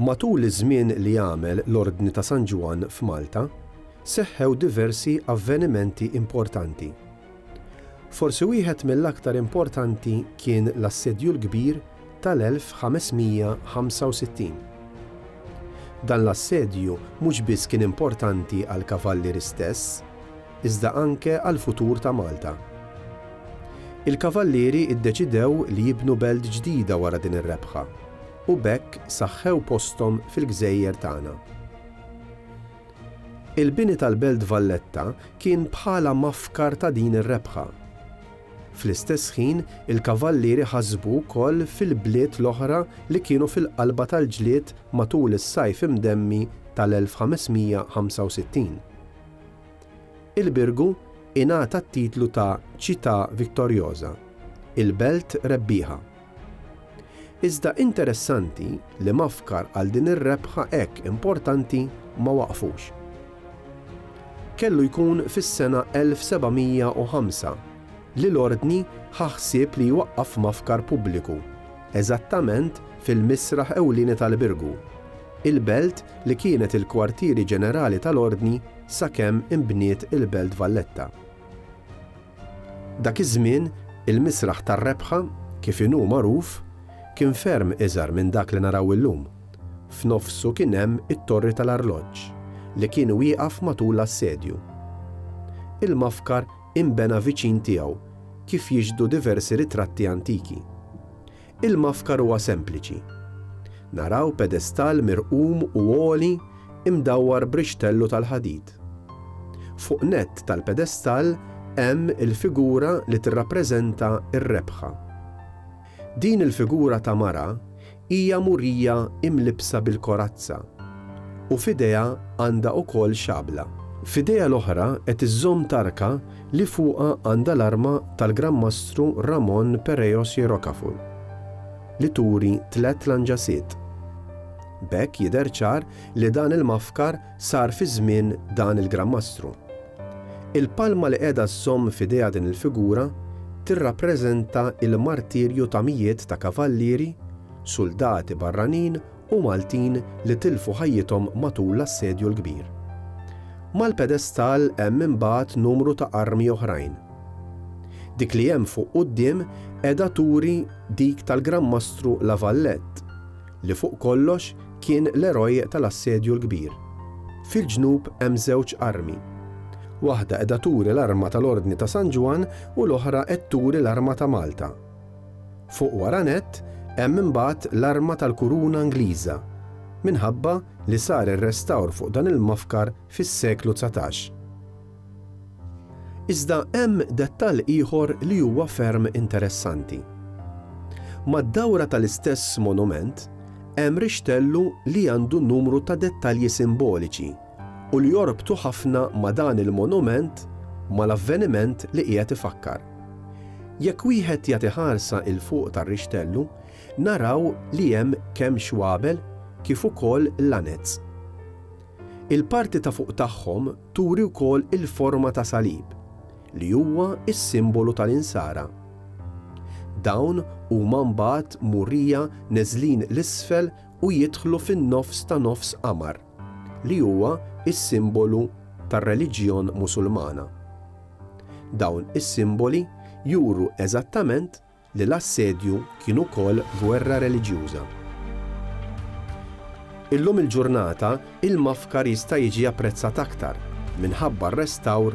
Matul iż-żmien li għamel l-Ordni ta' San Ġwann f'Malta, seħħew diversi avvenimenti importanti. Forsi wieħed mill-aktar importanti kien l-Assedju l-Kbir tal-1565. Dan l-assedju mhux biss kien importanti għall-Kavalliri stess, iżda anke għall-futur ta' Malta. Il-Kavallieri ddeċidew li jibnu belt ġdida wara din ir-rebħa u b'hekk saħħew posthom fil-gżejjer tagħna. Il-bini tal-Belt Valletta kien bħala mafkar ta' din ir-rebħa. Fl-istess ħin il-Kavallieri ħasbu wkoll fil-bliet l-oħra li kienu fil-qalba tal-ġlied matul is-Sajf Imdemmi tal-1565. Il-Birgu ingħata t-titlu ta' Città Vittoriosa, il-Belt Rebbieħa. Iżda interessanti li mafkar għal din ir-rebħa hekk importanti ma waqfux. Kellu jkun fis-sena 1705 li l-Ordni ħa ħsieb li jwaqqaf mafkar pubbliku eżattament fil-misraħ ewlieni tal-Birgu, il-Belt li kienet il-kwartieri ġenerali tal-Ordni sakemm inbniet il-Belt Valletta. Dak iż-żmien, il-Misraħ tar-Rebħa, kif inhu magħruf, kien ferm iżgħar minn dak li naraw illum. F'nofsu kien hemm it-Torri tal-Arloġġ, li kien wieqaf matul l-assedju. Il-mafkar inbena viċin tiegħu, kif jixhdu diversi ritratti antiki. Il-mafkar huwa sempliċi. Naraw pedestall mirqum u għoli imdawwar b'rixtellu tal-ħadid. Fuq nett tal-pedestall hemm il-figura li tirrappreżenta r-rebħa. Din il-figura ta' mara hija murija imlibbsa bil-korazza u f'idejha għandha wkoll xabla. F'idejha l-oħra qed iżżomm tarka li fuqha għandha l-arma tal-Gran Mastru Ramon Pereiros y Rocafort, li turi tliet lanġasiet. B'hekk jidher ċar li dan il-mafkar sar fi żmien dan il-Gran Mastru. Il-palma li qiegħda żżomm f'idejha din il-figura tirrappreżenta l-martirju ta' mijiet ta' kavallieri, suldati barranin u Maltin li tilfu ħajjithom matul l-Assedju l-Kbir. Mal-pedestal hemm imbagħad numru ta' armi oħrajn. Dik li hemm fuq quddiem qiegħda turi dik tal-Gran Mastru La Valette, li fuq kollox kien l-eroj tal-Assedju l-Kbir. Fil-ġnub hemm żewġ armi. Waħda qiegħda turi l-arma tal-Ordni ta' San Ġwann u l-oħra qed turi l-arma ta' Malta. Fuq wara nett hemm imbagħad l-arma tal-kuruna Ingliża, minħabba li sar ir-restawr fuq dan il-mafkar fis-seklu dsatax. Iżda hemm dettall ieħor li huwa ferm interessanti. Mad-dawra tal-istess monument hemm rixtellu li għandu numru ta' dettalji simboliċi, u li jorbtu ħafna ma' dan il-monument mal-avveniment li qiegħed ifakkar. Jekk wieħed jagħti ħarsa 'il fuq tar-rixtellu, naraw li hemm kemm xwabel kif ukoll lanez. Il-parti ta' fuq tagħhom turi wkoll il-forma ta' salib, li huwa s-simbolu tal-Insara. Dawn huma mbagħad murija neżlin 'l isfel u jidħlu fin-nofs ta' nofs qamar. li huwa s-simbolu tar-reliġjon Musulmana. Dawn is-simboli juru eżattament li l-assedju kien ukoll gwerra reliġjuża. Illum il-ġurnata il-Mafkar jista' jiġi apprezzat aktar minħabba r-restawr